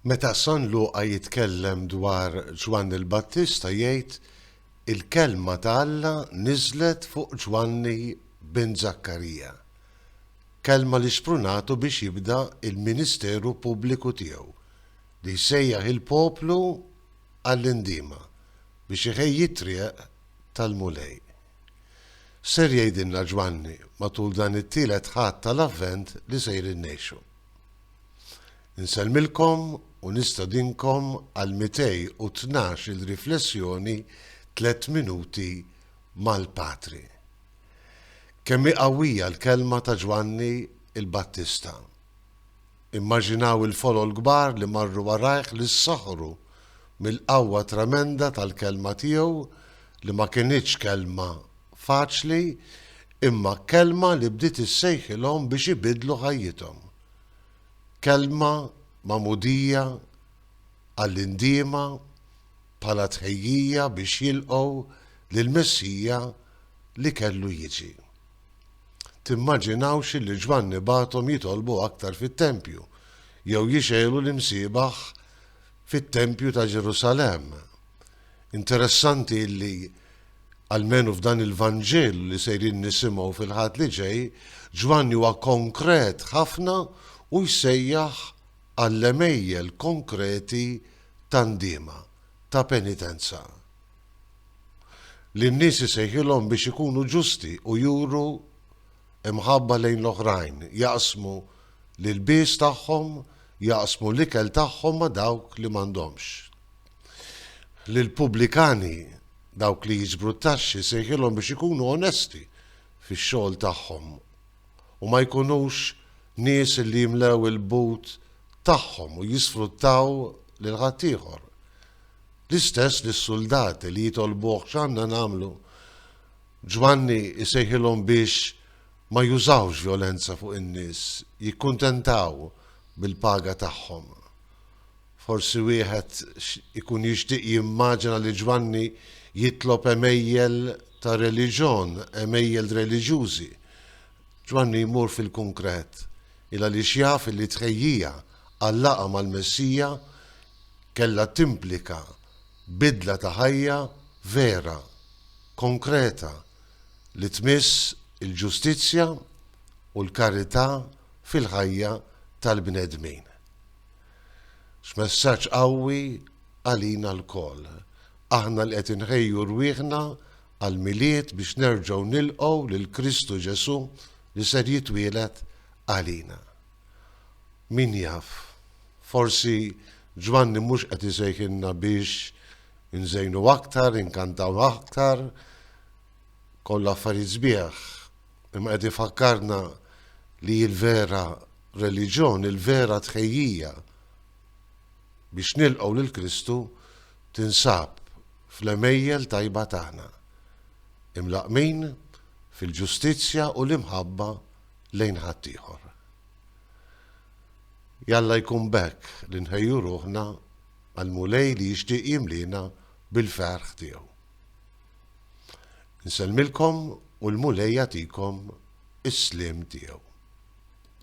Meta San Luqa jitkellem dwar Ġwanni l-Battista jgħid, Il-kelma ta' Alla niżlet fuq Ġwanni bin Żakkarija, kelma li xprunatu biex jibda l-ministeru pubbliku tiegħu, li jsejjaħ il-poplu għall-indiema, biex iħejji t-triq tal-Mulej. Ser jgħidilna Ġwanni matul dan it-tielet Ħadd tal-Avvent li sejrin ngħixu. Insellmilkom u nistedinkom għal 212 il riflessjoni Tliet Minuti mal-Patri. Kemm hi qawwija l-kelma ta' Ġwanni il-Battista! Immaġinaw il-folol kbar li marru warajh li ssaħħru mill-qawwa tremenda tal-kelma tiegħu li ma kinitx kelma faċli imma kelma li bdiet issejħilhom biex ibiddlu ħajjithom. Kelma magħmudija għall-indiema bħala tħejjija biex jilqgħu lill-Messija li kellu jiġi. Timmaġinawx illi Ġwanni bagħathom jitolbu aktar fit-tempju, jew jixgħelu l-imsiebaħ fit-tempju ta' Ġerusalemm. Interessanti illi, almenu f'dan il-Vanġelu li sejrin nisimgħu fil-Ħadd li ġej, Ġwanni huwa konkret ħafna u jsejjaħ għall-għemejjel konkreti ta' ndiema, ta' penitenza. li n-nies isejħilhom biex ikunu ġusti u juru imħabba lejn l-oħrajn, jaqsmu l-ilbies tagħhom, jaqsmu l-ikel tagħhom ma' dawk li m'għandhomx. Lill-pubblikani, dawk li jiġbru t-taxxi, sejħilhom biex ikunu onesti fix-xogħol tagħhom u ma jkunux nies li jimlew il-but tagħhom u jisfruttaw lil ħaddieħor. L-istess lis-suldati li jitolbuh x'għandna nagħmlu, Ġwanni jsejħilhom biex ma jużawx vjolenza fuq in-nies, jikkuntentaw bil-paga tagħhom. Forsi wieħed ikun jixtieq jimmaġina li Ġwanni jitlob għemejjel ta' reliġjon, għemejjel reliġjużi. Ġwanni jmur fil-kunkret, il għaliex jaf li t-tħejjija għal-laqgħa mal-Messija kellha timplika bidla ta' ħajja vera, konkreta li tmiss il-ġustizzja u l-karità fil-ħajja tal-bnedmin. X'messaġġ qawwi għalina lkoll, aħna li qed inħejju rwieħna għall-Milied biex nerġgħu nilqgħu lil Kristu Ġesù li ser jitwieled għalina. Min jaf, forsi Ġwanni mhux qed isejħilna biex inżejnu aktar, inkantaw aktar, kollu affarijiet sbieħ, imma qed ifakkarna li l-vera reliġjon, il-vera tħejjija biex nilqgħu lil Kristu tinsab fl-għemejjel tajba tagħna, imlaqqmin fil-ġustizzja u l-imħabba lejn ħaddieħor. Jalla jkun b'hekk li nħejju ruħna għal Mulej li jixtieq jimliena bil-ferħ tiegħu. Nsellmilkom u l-Mulej jagħtikom is-sliem tiegħu.